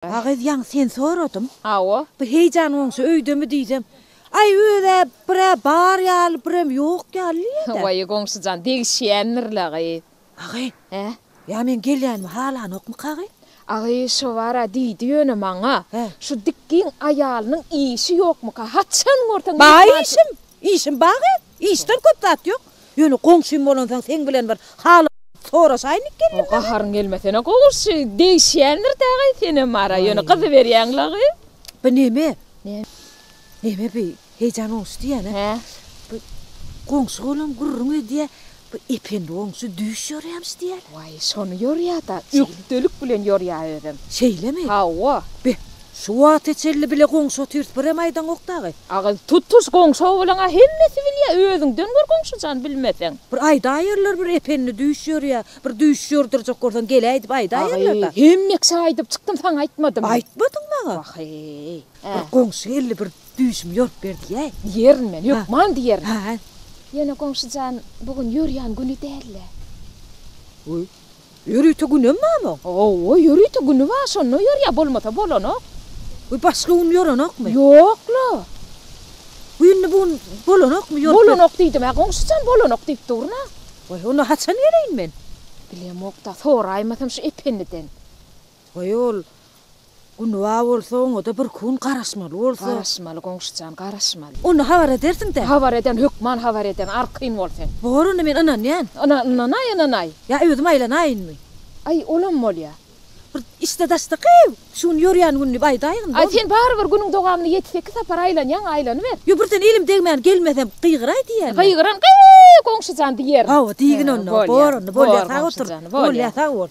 Agyz ýaň sen soradyň. Hawa. Bu heýjan goňşy öýdemi diýsem, Aý öz-ä bir-ä bar ýaly, birem ýok ýaly diýýä-dä. Waý, goňşy jan, degişýändir-le agyz. Agyz. Hä? Ýa meň gelýänimi halanokmyka agyz? Agyz şo bar-a diýdi ýöne maňa. Hä? Şu dikgiň aýalynyň işi ýokmyka? Haçan görseň mehmançy. Bar işim. Işim bagy, işden köp zat ýok. Ýöne goňşym bolansoň seň bilen bir hal soraşaýyn diýip geldim. Gaharyň gelmesene goňşy, degişýändir dagay senem ara, ýöne gyzyberýäň lagy. Bu neme? Neme bu? Heýjan goňşy diýýän-ä. Hä? Bu goňşy olam gürrüň edýä. Bu Ependi oňçy düýş ýörýämiş diýýär. Waý, şony ýörýä-da, ökdelik bilen ýörýä özem. Şeýlemi? Hawa. Be, şu wagta çenli bile goňşy otyrys, birem aýdaňok dagy. Aga, tutuş goňşy owalyň-a hemmesi bilýä, özüňden gör goňşy jan, bilmeseň. Bir aýdaýerler, bir Ependi düýş ýörýä, bir düýş ýordurjak bolsaň gel-ä diýip aýdaýerler-dä. Aga, hemmeksä aýdyp çykdym, saňa aýtmadym. Aýtmadyň maňa. Waheý. Bir goňşy geldi, bir. Düýşüm ýorup berdi-ýä. Diýerin men, hökman diýerin. Hä. Ýöne goňşy jan, bu gün ýörýän güni däl-le. Öý, ýörite günem barmy oň? Hawa, ýörite güni bar, şonda ýörýär, bolmasa bolanok. Öý, başga gün ýörenokmy? Ýok-la. Bu indi bu gün bolanokmy ýorup ber-. Bolanok diýdim-ä, goňşy jan, bolanok diýip durun-a. Waý, onda haçan geleýin men? Bilemok-da, soraýmasam şu Ependiden. Waý, ol Günba bolsa oňada bir kun garaşmaly bolsa. Garaşmaly goňşujan garaşmaly. Onda habar edersiňdä. Habar ederin hökman habar ederin arkaýyn bol sen. Bor onda men ynanýan. Yna ynanaý ynanaý. Ýa özüm aýlanaýynmy. Aý olam bolýa. Bir işde daşda gyýw. Şu gün ýörýän gün diýip aýdaýgyn bolmy. Aý sen barybir günüň dowamynda ýedi sekiz sapar aýlanýaň aýlanyber. Ýo birden elim degmän gelmesem gygyraý diýýänmi. Gygyran gyýw goňşujan diýerin. Hawa diýgin onda. Bor onda bolýa sag otur. Bolýa sag bol.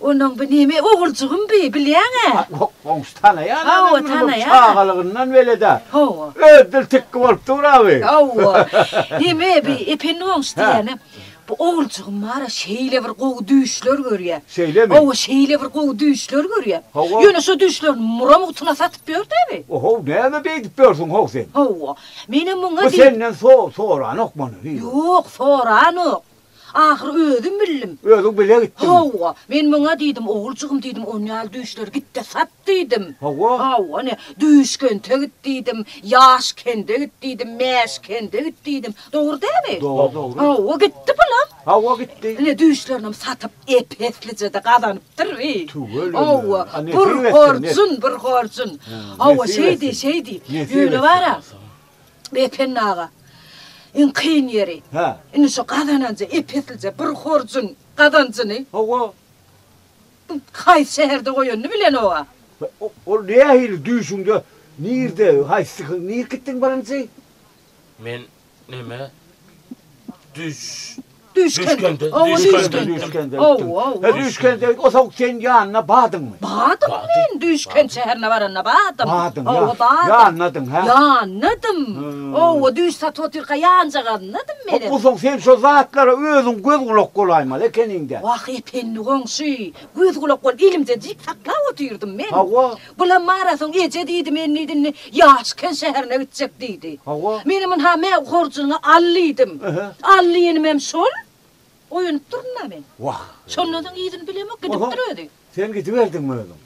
Onuň bu neme oguljygym bi, bilýäň-ä? Ýok, goňşy tanaýan-a men muny, bu çagalygyndan bele-dä. Hawa. Öz dil tikgi bolup dur-a bi. Hawa. Neme bi, Ependi goňşy diýýänem, bu oguljygym bar-a, şeýle bir gowy düýşler görýär. Şeýlemi? Hawa, şeýle bir gowy düýşler görýär. Hawa. Ýöne şo düýşlerini mura mugtuna satyp ýör-dä bi. O-how, näme beýdip ýörsüň ho sen? Hawa. Menem muňa diýip. Bu senden so-soranok muny, bi. Ýok, soranok. Ahyry özüm bildim. Özüň bile gitdiňmi? Hawa. Men muňa diýdim, Oguljygym diýdim, on ýaly düýşleri git-de sat diýdim. Hawa? Hawa, ine, düýş kente git diýdim, ýaş kende git diýdim, mäş kende git diýdim. Dogry dälmi? Dogry, dogry. Hawa, gitdi bulam. Hawa, gitdi. Ine, düýşlerinem satyp, ep-eslije-de gazanypdyr bi. Tüweleme. Hawa, bir horjun, bir horjun. Hawa, şeýdi, şeýdi. Ýöne bar-a, Ependi aga, iň kyn ýeri, indi şu gazananja ep-eslije bir horjuň gazanjyny Hawa. haýsy şäherde goýanyny bilenok-a. Ol nähili düýşüňde, nirde, haýsy gün, nirkitdiň birinji? Men neme, düýş Düýşkende. Hawa, düýşkende. Düýşkende. Hawa, hawa. He, düýşkende. O soň sen ýanyna badyňmy? Badym men, düýşkent şäherine baranda badym. Badyň, ýa. Hawa, badym. Ýanynadyň, hä? Ýanynadym. Hawa, düýş satyp otyrka ýanjagazynadym menem. Hop, o soň sen şo zatlara özüň göz-gulak bolaýmaly ekeniň-dä. Wah, ependi goňşy, göz-gulak bolup elimde jik saklap otyrdym men. Hawa. Bulam mara soň eje diýdi men diýdim ne ýaşken şäherine gitjek diýdi. Hawa. Menem ynha me horjunyňy al diýdim. Al diýenimem şol. Oýanyp durdum-a men. Wah. Şondan soň yzyny bilemok gidipdir özi. Sen gidiberdiňmi özüň?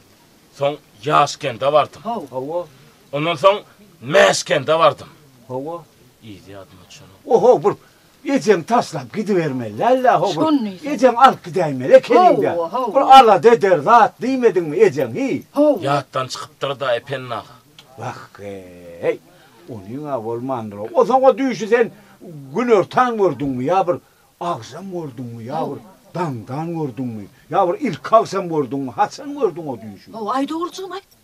Soň Ýaşkende bardym. Haw. Hawa. Ondan soň Mäşkende bardym. Hawa. Yzy ýadyma düşenok. Oho bir Ejeň taşlap gidibermeli däl-dä, ho bir ejeň alyp gidäýmeli ekeniň-dä. Bir alada eder zat diýmediňmi ejeň, hi? Ýatdan çykypdyr-da, Ependi aga. Wah-eý, onyň-a bolmandyr-ow. O soňa düýşi sen günortan gördüňmi ýa bir agşam gördüňmi ýa bir daňdan gördüňmi ýa bir ilki agşam gördüňmi, haçan gördüň o düýşi? Ho-aý, dogrujygym-aý.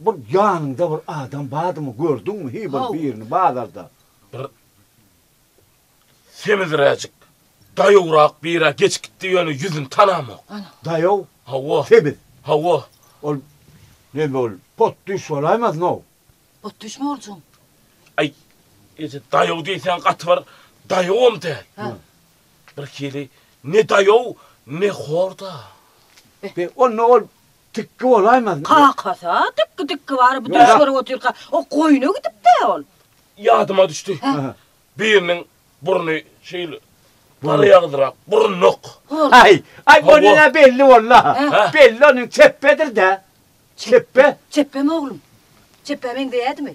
Bir ýanyňda bir adam bardymy gördüňmi hiý bir birini bazarda. Bir sebizräjik daýawrak birä geçip gitdi ýöne ýüzüni tanamok. Daýaw? Hawa. Sebiz? Hawa. Ol neme ol potdüş bolaýmaznow. Potdüş mi bolsun. Aý eje daýaw diýseň gaty bir daýawam däl. Hä. Bir hili ne daýaw ne horda. Onda ol Tikgi bolaýmaz. Kakasy-a tikgi tikgi bary bu düýş görüp otyrka, o goýna gidip-dä ol. Ýadyma düşdi. Biriniň burny şeýle garaýagdyrap, burunluk. Aý, aý ony-da belli boldy-a. Belli onuň çepbedir-dä. Çepbe. Çepbemi oglum? Çepbä meňzeýädimi?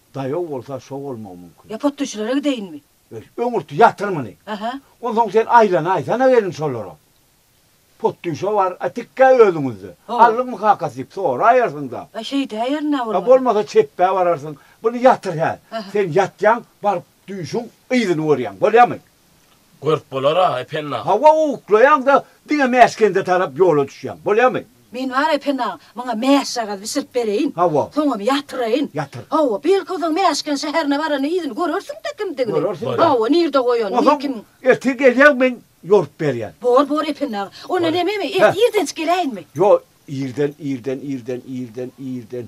Daýaw bolsa şo bolmagy mumkin. Ýa potdüşilere gideýinmi? Öýt, öňürti ýatyr muny. Aha. Onsoň sen Aýlana aýsana welin şolara. Potdüşe bar, a tikkä özüňizde. Ho. Aldyňmy kakasy diýip soraýarsyň-da. A şeýdäýerin-ä bolmasa. A bolmasa çepbä bararsyň. Buny ýatyr hä. Aha. Sen ýatýaň, baryp düýşüň yzyny görýäň. Bolýamy? Görüp bolar-a, Ependi aga. Hawa, uklaýaň-da, diňe Mäskende tarap ýola düşýäň. Bolýamy? Men bar, Ependi aga, muňa mäşjagaz bişirip bereýin. Hawa. Soňam ýatyraýyn. Ýatyr. Hawa, belki, o zaman Mäşken şäherine baranda yzyny görersiň-dä kimdigini. Görersiň-dä. Hawa, nirde goýanyny, kim. Onsoň ertir gelýäň, men ýorup berýän. Bor, bor, Ependi aga. Onda ine, men irdenjik geläýinmi? Ýok, irden, irden, irden, irden, irden.